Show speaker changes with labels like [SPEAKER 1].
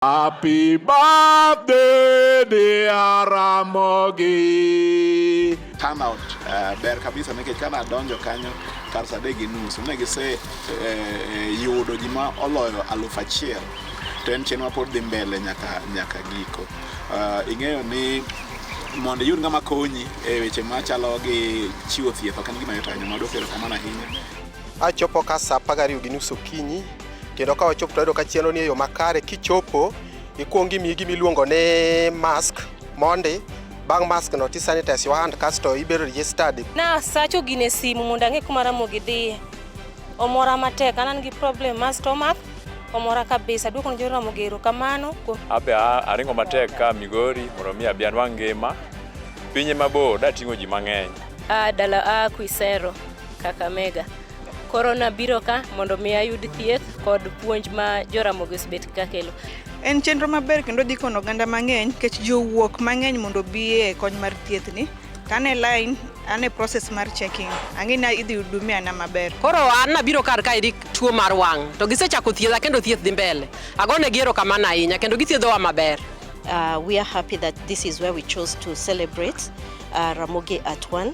[SPEAKER 1] Happy birthday dear Ramogi. Turnout uh,
[SPEAKER 2] ber kabisa nikech kana adonjo kanyo kar saa adek gi nus ne gise eh, eh, yudo ji ma oloyo aluf achiel to en chenro mapod dhi mbele nyaka nyaka giko. Uh, ing'eyo ni mondo iyud ng'ama konyi e weche machalo gi chiwo thieth ok en gima yot ahinya mondo okero kamano ahinya. Achopo
[SPEAKER 3] ka saa apar gariyo gi nus okinyi kendo ka wachopo tayudo ka chenro ni e yo makare kichopo ikwongi imiyi gima iluongo ni mask mondi bang' mask no tisanitize your hand kasto ibedo registered na sacho gine
[SPEAKER 4] simu mondo ang'e kuma ramogi dhiye omora matek an an gi problem mar stomach omora kabisa duoko ne joramogi erokamano kuom abe a-
[SPEAKER 5] aringo matek ka migori mondo mi abi anwang' ngima pinye mabor dating'o ji mang'eny a dala a
[SPEAKER 4] Quisero, Kakamega. Koro nabiro ka mondo mi ayud thieth kod puonj ma joramogi osebet ka kelo. En chenro maber
[SPEAKER 6] kendo dhi kono oganda mang'eny nikech jowuok mang'eny mondo obi e kony mar thieth ni. To an e line, an e process mar checking. Ang'e ni idhi hudumia na maber. Koro an nabiro kar
[SPEAKER 7] ka eri tuo mar wang' to gisechako thiedha kendo thieth dhi mbele. Agone gi erokamano ahinya kendo githiedhowa maber. Uh, we
[SPEAKER 8] are happy that this is where we chose to celebrate uh, Ramogi at one.